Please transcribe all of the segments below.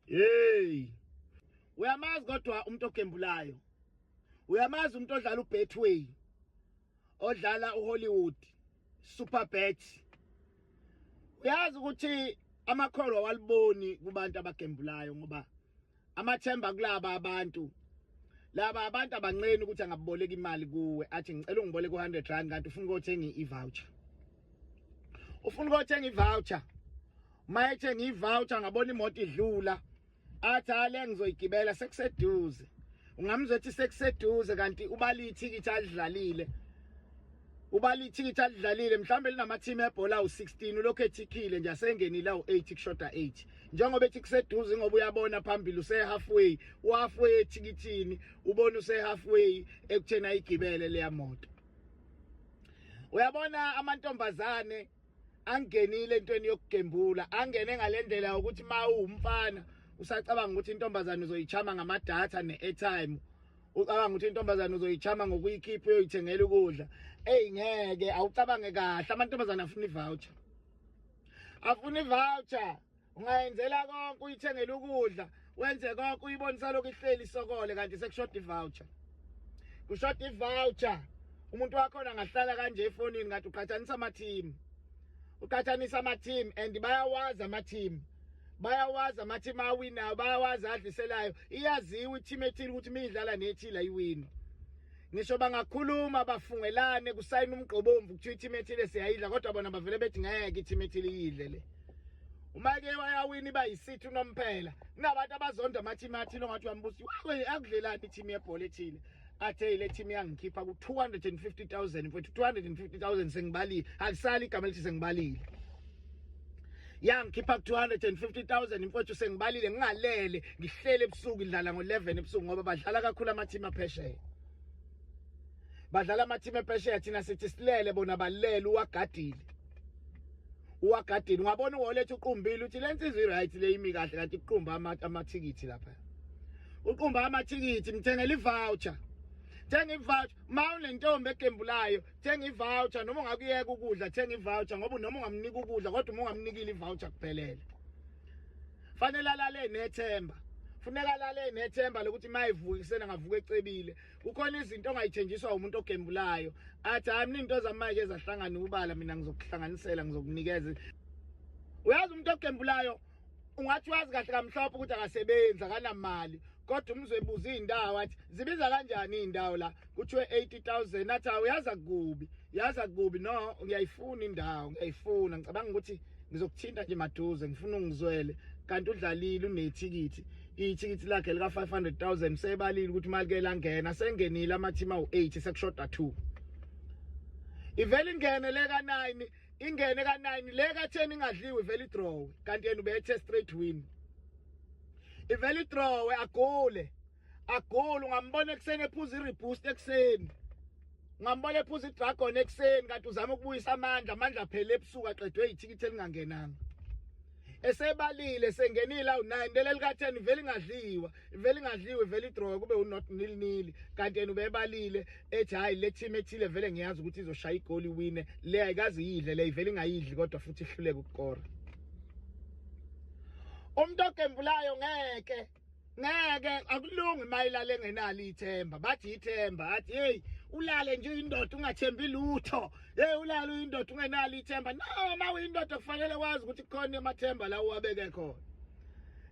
hey uyamazi kodwa umuntu ogembulayo uyamazi umuntu odlala ubetway odlala uhollywood super bet uyazi ukuthi amakholwa waliboni kubantu abagembulayo ngoba amathemba kulaba abantu laba abantu abanceni ukuthi angaboleka imali kuwe athi ngicela ungiboleke u100 rand kanti ufuna ukuthenga i-voucher ufuna ukothenga ivoucher uma ethenga ivoucher ngabona imoto idlula athi ale ngizoyigibela sekuseduze ungamzwa ethi sekuseduze kanti ubali ithikithi alidlalile ubali ithikithi alidlalile mhlawumbe linamathimi ebhola u16 ulokhu ethikhile nje asengenile u8 kushoda 8 njengoba ethi kuseduze ngoba uyabona phambili use halfway uhalfway ethikithini ubona use halfway ekuthena igibele leya moto uyabona amantombazane angenile entweni yokugembula angene ngalendlela ukuthi ma uwumfana usacabanga ukuthi intombazane uzoyichama ngamadatha ne-airtime ucabanga ukuthi intombazane uzoyichama ngokuyikhipha uyoyithengela ukudla eyi ngeke awucabange kahle amantombazane afuna i-voucher afuna i-voucher ungayenzela konke uyithengela ukudla wenze konke uyibonisa lokhu ihleli isokole kanti sekushoda ivoucher kushoda ivoucher umuntu wakhona angahlala kanje efonini ngathi uqhathanisa ama-team uqhathanisa ama-team and bayawazi ama-team bayawazi ama-team awinayo bayawazi adliselayo iyaziwa i-team ethile ukuthi miyidlala nethile ayiwini ngisho bangakhuluma bafungelane kusayina umgqobomvu kuthiwa i-team ethile siyayidla kodwa bona bavele bethi ngeke i-team ethile iyidle le uma ke wayawini iba yisithi unomphela kunabantu abazonda amathimi athile ongathi uyambusi akudlelani ithimu yebhola ethile athe ile team yangikhipha ku 250000 mfethu 250000 sengibalile alisali igama elithi sengibalile yangikhipha ku 250000 mfethu sengibalile ngingalele ngihlele ebusuku idlala ngo 11 ebusuku ngoba badlala kakhulu ama team aphesheya badlala ama team aphesheya thina sithi silele bona balele uwagadile uwagadini wabona uwoletha uqumbile uthi le nsizwa i-right le imi kahle kanti kuqumba amathikithi lapha uqumba amathikithi mthengela i-voucher thenga i-voucher ma unentombi egembulayo thenga i-voucher noma ungakuyeka ukudla thenga i-voucher ngoba noma ungamnika ukudla kodwa uma ungamnikile i-voucher kuphelele fanele alale nethemba funeka alale nethemba lokuthi uma evuka ekuseni angavuka ecebile kukhona izinto ongayithenjiswa umuntu ogembulayo athi hayi mina into zamanje ezahlangana ubala mina ngizokuhlanganisela ngizokunikeza uyazi umuntu ogembulayo ungathi wazi kahle kamhlophe ukuthi akasebenzi akanamali kodwa umzwe ebuza iy'ndawo athi zibiza kanjani iy'ndawo la kuthiwe 80000 athi awu yaza kubi yaza kubi no ngiyayifuna indawo ngiyayifuna ngicabanga ukuthi ngizokuthinta nje maduze ngifuna ungizwele kanti udlalile unethikithi ithikithi lakhe lika 500000 sebalile ukuthi imali ke langena sengenile amathima u8 sekushoda 2 ivele ingene le ka 9 ingene ka 9 le ka 10 ingadliwe ivele idraw kanti yena ubethe straight win ivele idraw agole agole ungambona ekuseni ephuza iriboost ekuseni ngambona ephuza idragon ekuseni kanti uzama ukubuyisa amandla amandla phela ebusuku aqedwe yithikithi elingangenanga esebalile sengenile awu-9 leli lika-10 vele ingadliwa vele ingadliwe vele idrowe kube unot nil nil kanti yena ubebalile ethi hhayi le team ethile vele ngiyazi ukuthi izoshaya igoli iwine le ayikaze iyidle le ivele ingayidli kodwa futhi ihluleke ukukora umuntu ogembulayo ngeke ngeke akulungi mayilale engenalo ithemba bathi ithemba athi hey ulale nje indoda ungathembi lutho hey ulale uyindoda ungenalo ithemba no ma uyindoda kufanele wazi ukuthi khona amathemba la uwabeke khona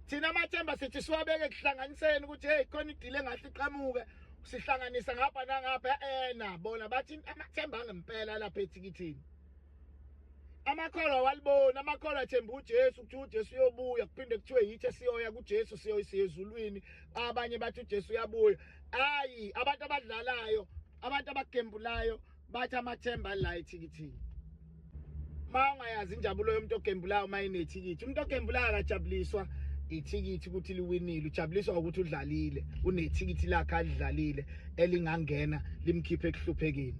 thina amathemba sithi siwabeke kuhlanganiseni ukuthi hey khona idile ngahle iqhamuke sihlanganisa ngapha nangapha ena bona bathi amathemba angempela lapha ethikithini amakholwa awaliboni amakholwa athemba uJesu ukuthi uJesu uyobuya kuphinde kuthiwe yithi esiyoya kuJesu siyoyisiya ezulwini abanye bathi uJesu uyabuya ayi abantu abadlalayo abantu abagembulayo bathi amathemba la ethikithini ma ungayazi injabulo yomuntu ogembulayo uma inethikithi umuntu ogembulayo akajabuliswa ithikithi ukuthi liwinile ujabuliswa ukuthi udlalile unethikithi lakhe alidlalile elingangena limkhiphe ekuhluphekeni